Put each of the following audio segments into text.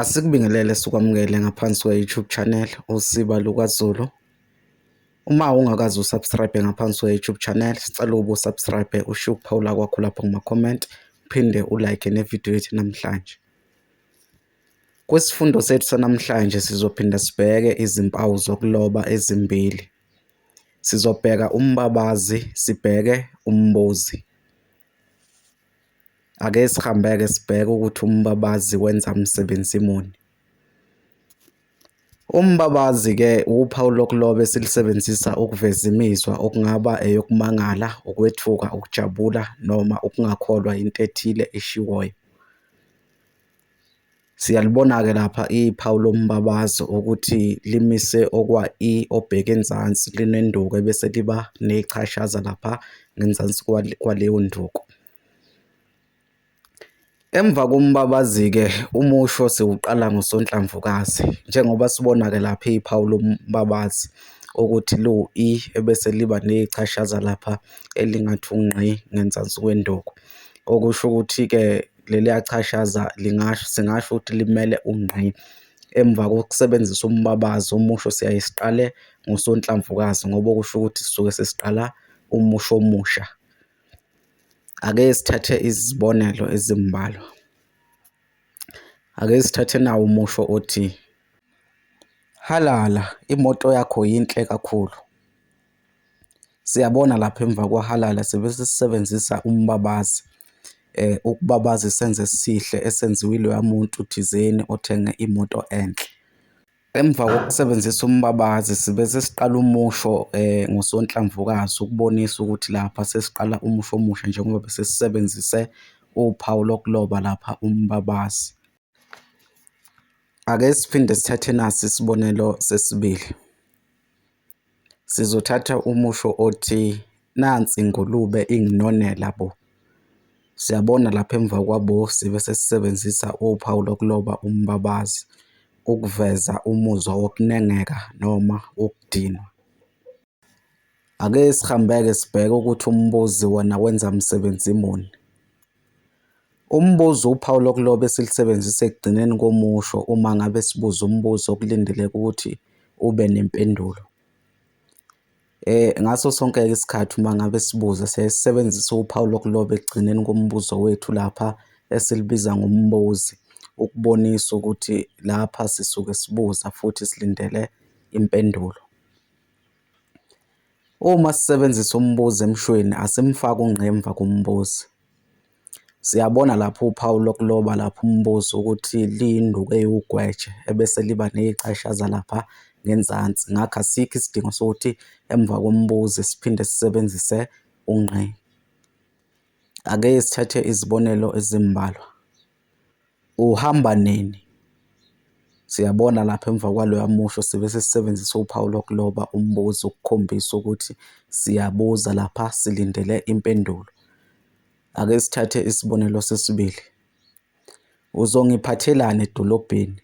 Asikubingelele sikwamukele ngaphansi kwe-YouTube channel Usiba LukaZulu. Uma ungakaze usubscribe ngaphansi kwe-YouTube channel, sicela ubu subscribe usho ukuphawula kwakho lapho kuma-comment uphinde ulike nevidiyo yethu namhlanje. Kwisifundo sethu sanamhlanje sizophinda sibheke izimpawu zokuloba ezimbili. Sizobheka umbabazi, sibheke umbuzi. Ake sihambe-ke sibheke ukuthi umbabazi wenza msebenzi muni. Umbabazi-ke wuphawu lokuloba esilisebenzisa ukuveza imizwa okungaba eyokumangala, ukwethuka, ukujabula noma ukungakholwa yinto ethile eshiwoyo. Siyalibona-ke lapha iphawu lombabazo ukuthi limise okwa-i obheke enzansi linenduku ebese liba nechashaza lapha ngenzansi kwaleyo nduku. Emva kombabazi-ke umusho siwuqala ngosonhlamvukazi njengoba sibona-ke lapha iphawu lombabazi ukuthi liwu-i ebese liba nechashaza lapha elingathi ungqi ngenzansi kwenduku. Okusho ukuthi-ke Leliya chashaza lingasho, singasho ukuthi limele ungqi. Emva kokusebenzisa umbabazo, umusho siyaye siqale ngosonhlamvukazi ngoba okusho ukuthi sisuke sesiqala umusho omusha. Ake sithathe izibonelo ezimbalwa. Ake sithathe nawu umusho othi, Halala! Imoto yakho yinhle kakhulu. Siyabona lapha emva kwahalala sibe sisebenzisa umbabazi ukubabaza isenzo esihle esenziwe iloya muntu thizeni othenge imoto enhle. Emva kokusebenzisa umbabazi sibe sesiqala umusho ngosonhlamvukazi ukubonisa ukuthi lapha sesiqala umusho omusha njengoba bese sisebenzise uphawu lokuloba lapha umbabazi. Ake siphinde sithathe nasi isibonelo sesibili. Sizothatha umusho othi, Nansi ingulube inginonela bo! Siyabona lapha emva kwa-bo sibe sesisebenzisa uphawu lokuloba umbabazi ukuveza umuzwa wokunengeka noma wokudinwa. Ake sihambe-ke sibheke ukuthi umbuzi wona wenza msebenzi muni. Umbuzo, uphawu lokuloba esilusebenzisa ekugcineni komusho uma ngabe sibuza umbuzo okulindeleke ukuthi ube nempendulo. Ngaso sonke-ke isikhathi uma ngabe sibuza siyaye sisebenzise uphawu lokuloba ekugcineni kombuzo wethu lapha esilubiza ngombuzi ukubonisa ukuthi lapha sisuke sibuza futhi silindele impendulo. Uma sisebenzisa umbuzo emshweni asimfaki ungqi emva kombuzo. Siyabona lapha uphawu lokuloba lapha umbuzo ukuthi liyinduku ewugweje ebese liba neyicashaza lapha ngenzansi. Ngakho asikho isidingo sokuthi emva kombuzo siphinde sisebenzise ungqi. Ake sithathe izibonelo ezimbalwa. Uhamba nini? Siyabona lapha emva kwaloya musho sibe sesisebenzisa uphawu lokuloba umbuzo ukukhombisa ukuthi siyabuza lapha silindele impendulo. Ake sithathe isibonelo sesibili, Uzongiphathelani edolobheni?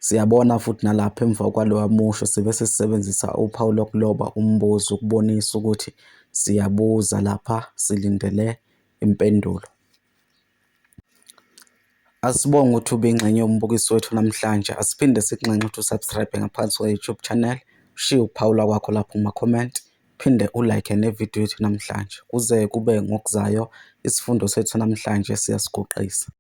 Siyabona futhi nalapha emva kwaloya musho sibe sesisebenzisa uphawu lokuloba umbuzo ukubonisa ukuthi siyabuza lapha silindele impendulo. Asibonge ukuthi ube ingxenye yombukiso wethu namhlanje. Asiphinde sikunxenxe ukuthi u-subscribe ngaphansi kwe-YouTube channel, ushiye ukuphawula kwakho lapho kuma-comment, phinde u-like ne-video yethu namhlanje. Kuze kube ngokuzayo, isifundo sethu sanamhlanje siyasiguqisa.